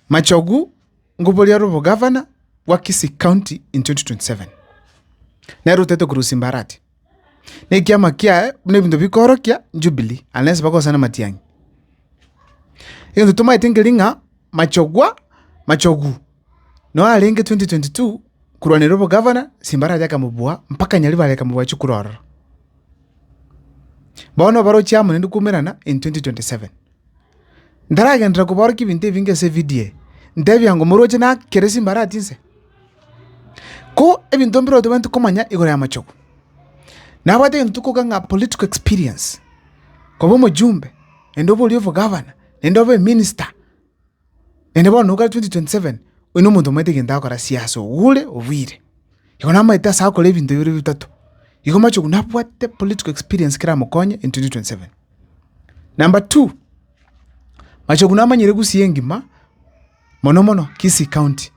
Machogu ngoboria rw'obogavana bwa Kisii County in 2027, nere otaete korwa ase Mbarati, na ekiama kiaye buna ebinto bikoorokia Jubilee unless bagosana Matiang'i. Egento tomaete nkeria ng'a Machogwa, Machogu, noyo arenge 2022 korwanera obogavana ase Mbarati akamobua mpaka Nyaribare akamobua chikura ororo. Bono barochia amo naende kwaumerana in 2027. Ntaragenderera koborokia ebinto ebinge ase evidio eye, ntebia ng'a omorochi nakere chimbarati inse. Ko ebinto mbire otobwenerete komanya igoro y'amachogu, nabwate egento tokoka ng'a political experience, koba omojumbe, naende obe oria obogavana, naende obe eminister. Naende bono iga 2027 oino omonto omanyete egento agokora siasa ogure obwire. Igo namanyete ase agokora ebinto bibere bia bitato, igo amache korwa nabwate political experience kera mokonye in 2027. Number two, amache korwa namanyire Gusii engima, mono mono Kisii county.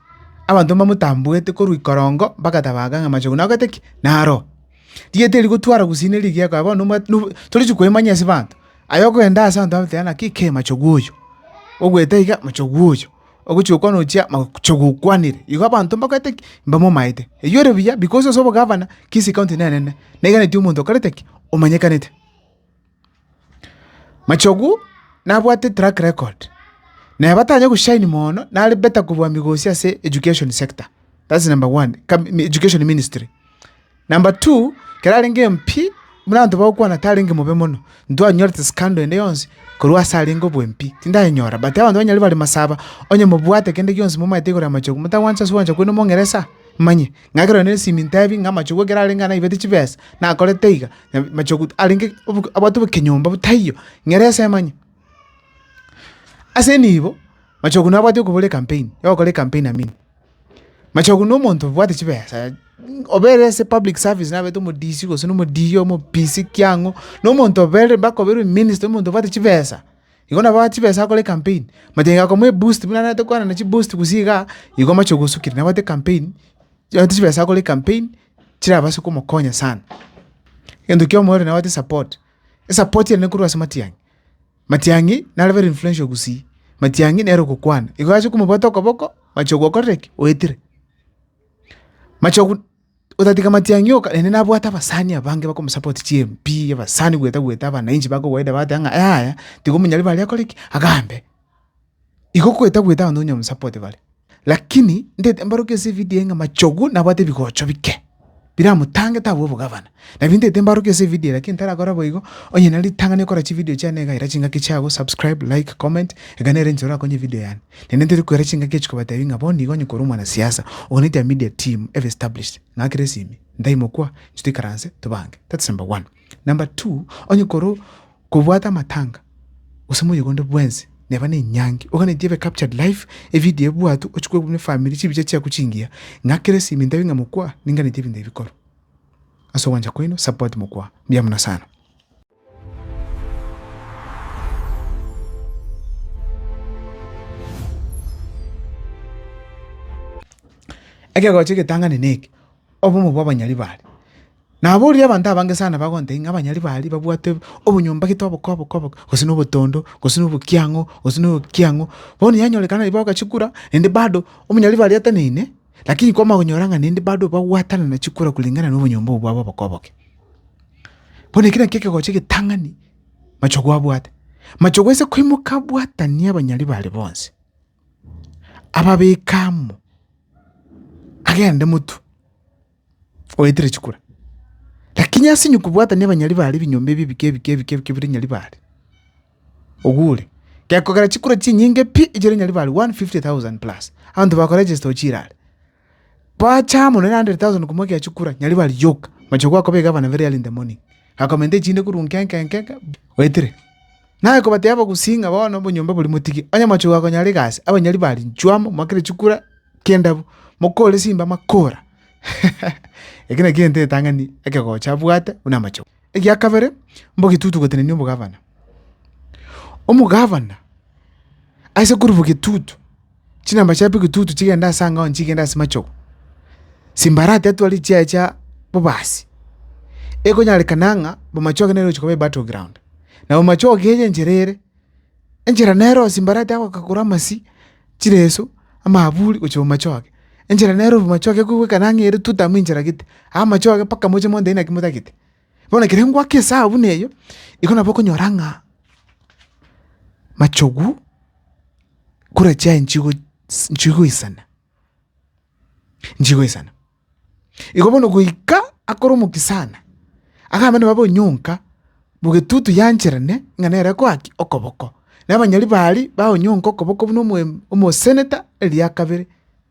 Abanto mbamotambwete korwa ikorongo mpaka tabaga ng'a amache korwa nagokete ki? Naroo. Rieta eri rigotwara gusii neri rigieko aye bono nomwat- nobo torichi koemanyia ase abanto. Aye okoenda ase abanto bagotebi ng'a ki kei machogu oyo, ogoeta iga machogu oyo, ogochia gokwana ochia machogu okwanire. Igo abanto mbagoete ki? Mbamomaete. Eywo ore buya because ase obogavana, kisi county nenene, naiga naitwe omonto okorete ki? Omanyekanete. Machogu nabwate track record, na eba tanya go shine moono, nare better kobua migosi ase education sector, that's number one, kab- mi- education ministry. Number two, ekero arenge MP, buna abanto bagokwana tarenge mobe mono, ntwanyorete scandal ende yonsi korwa ase arenge obo MP, tindayenyora, but abanto banyare bare masaba, onye mobwate kende gionsi momaete igoro ya machogu, motagwancha ase ogwancha kwaino mongeresa, manye. ng'a ekero nere nesimi ntebi ng'a amachogu ekero arenge aa naibete chibesa, nakorete iga, nabi machogu arenge oboke abwate obokenyomba bo taiyo, ng'ere ase emanye. Ase nibo, machogu nabwate okobora ekampeni, ya ogokora ekampeni amini. Machogu na omonto obwate chibesa, obe ere ase public service nabete omodisi gose na omodiiri omopisi kiang'o, na omonto obe ere mpaka obe ere ominista omonto obwate chibesa. Igo nabo chibesa akore ecampaign, machine gakomoa eboost buna arentete kwana na chiboost gusii igaa, igo amache gosukera nabwate ecampaign, chiaye chibesa akore ecampaign, chirabase komokonya sana. Egento kia omoyo ore nabwate esapport, esapport ere nekorwa ase matiang'i, matiang'i naro very influential gusii, matiang'i nere ogokwana, igo ase komobwata okoboko, machogu okorire ki? Oetire. Machogu. Otatiga matiang'i oka, naende nabwate abasani abange bakomosapoti chimpii, abasani gweta gweta, abanainchi ba kawaida bagateba ng'a yaya, tiga omonyari bare akore ki? Agambe. Igo gweta gweta abanto onye bamosapote bare. Lakini, ntaete mbarokie ase evidio eye ng'a machogu nabwate ebigocho bike, biramotange tabua obogavana. Nabintete mbarokie ase evidio eye, lakini ntarakora boigo, onye na ritang'ani okora chividio chiane iga, ira chingaki chiago, subscribe, like, comment, iga nere enchera orakonye evidio yane. Naende ntari koira chingaki echi kobatebi ng'a bono iga onye korwa omwana siasa, oganetie a media team ebe established, ng'akere esimi, ntaimokwa, inche toikaranse tobange. That's number one. Number two, onye korwa kobwate amatanga, gose moyega onde bwensi, neba na enyangi, oganetie ebe captured live, evidio ebwatwe, ochikwe buna efamiri, chibicha chiaku chingiya, ng'akere esimi, ntabi ng'a mokwa, ninganetie ebinto ebi bikorwa. ase ogwancha kwaino support mokwa mbuya muno sana. Ekegocho egetang'ani neke obomo bwa abanyari bare naborire abanto abange sana bagontebia ng'a abanyari bare babwate obonyomba gete oboke oboke oboke gose na obotondo gose na obokia ang'o gose na obokia ang'o bono yanyorekana naiboagachikura naende bado omonyari bare ateneine. Lakini kwamanyora ng'a neende bado bagwatanana chikura koreng'ana nobonyomba obwo bwabo oboke oboke. Bono eke nakio ekegocho egetang'ani machogu abwate. Machogu aise koimoka abwatanie abanyari baare bonsi, ababeke amo, agende motwe, oetire chikura. Lakini ase onye kobwatani abanyari baare ebinyomba ebi ebike ebike ebike ebike bire Nyaribare, ogure, gekogera chikura chinyinge pi echire Nyaribare 150,000 plus, abanto bako register ochire are. Bache amo nere 100,000 komwakia chikura, Nyaribare yoka, mochie gwakoba egavana very early in the morning, akomenta echinde korwa nkenke nkenke, oetire. Naye kobatebia abagusii ng'a bono obonyomba boria motige, onye mochie gokonyora egasi, abanyori ba rinchu amo, moakere chikura ki'endabu, mokore simba makora. Eke nakio egento egetang'ani ekegocha abwate buna amache. Egia kabere, mbogetutu gotenenia obogavana. Omogavana aise korubogetutu. chinamba chia pigitutu chigende ase angao chigende ase machogo, simbarati atwari chiaye chia bobasi, ekonyarekana ng'a bomachoge nere ogochia koba ebattle ground. Na bomachoge eye enchera ere, enchera nere oo simbarati agokakora amasi, chireso, amaaburi gochia bomachoge. Enchera nere oo bomachoge ekoigwekana ng'a ere tuta amo enchera gete, amachoge mpaka moche monto inaki motagete. Bono ekero ngoaka esaha buna eyo, igo nabo okonyora ng'a machogu kore chiaye nchigo nchigo isana, nchigo isana. Igo bono goika akore omokia sana, akamenya nabo onyonka, mogetutu yancherane ng'a nere akoaki okoboko. Na abanyari baria baonyonka okoboko buna omoe omoseneta eria ya kabere.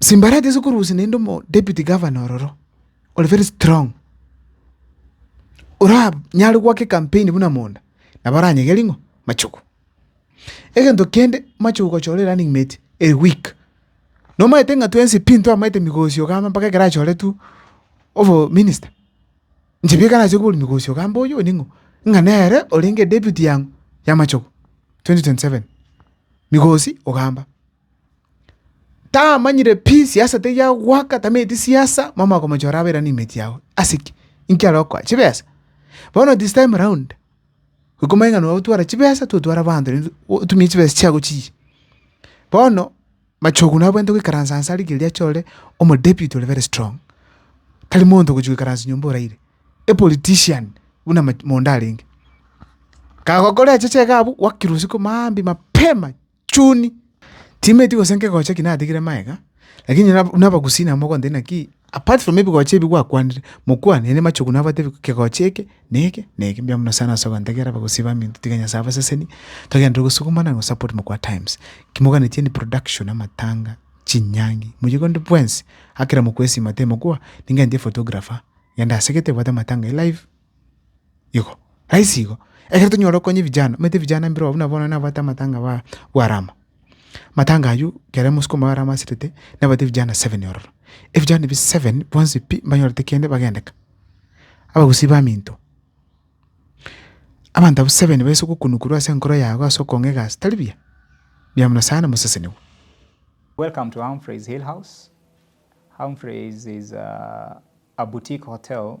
Simbari atese korusia naende omo deputy governor ororo, ore very strong, ora nyare goaka ecampaign buna monda, nabo aranyege ring'o? Machugu. Egento kende, machugu gochora erunning mate ere weak, nomanyete ng'a twensi pi ntwamaete migosi iga mpaka ekero achore tu obominister. Inche bieka nache kobori mogosi ogambe oyo oyo ning'o? Ng'a nere orenge deputy yang'o y'amachogo twenty twenty seven. Migosi ogamba, tamanyire pi siasa teri ya goaka tamanyeti siasa mama okomochora abe rani imate yago, ase ki? Inki arokoa? Chibesa? Bono this time round iko komanya ng'a notwara chibesa totware abanto naende otumie chibesa chiago chiyie. Bono Machogu nabwenerete goikaransa anse a rigiri ria chore, omo deputy ore very strong, tari monto ogochia goikaransa nyomba oraire, a politician buna ma mondo arenge. Kagokora eche chege abwo, gwakire usiku maambia mapema chuni, timeti gose nkegocha ki natigire magega, lakini nab- nabagusii nabo mogontebi naki Apart from ebigocha ebi gwakwanire, mokwane naende machogu nabo batebi kegocha eke, na eke, na eke. Mbuya mono sana ase ogantegerera abagosii baminto, tiga Nyasae abasesenie, togende tore gosukumana na go support Mokwa Times. Kimoganetie ni production, amatanga, chinyangi, moyio kende bwensi, akera mokwa esima tee mokwa, ningentie photographer, genda ase gete obwate amatanga e live. Igo, raisi igo. Ekero tonyora okonya vijana, omanyete vijana mbiro buna bono nabwate amatanga ba bwa rama. Matanga aywo, ekero mosukuma wa rama asetete, nabwate vijana seven ororo. Evijana ebi seven, bonsi pi, mbanyorete kende bagendeka. Abagusii baminto. Abanto abwo seven baise gokunukorwa ase enkoro yago ase okong'a egasi tari buya. Buya mono sana mosesenigwe. Welcome to Humphrey's Hill House. Humphrey's is a boutique hotel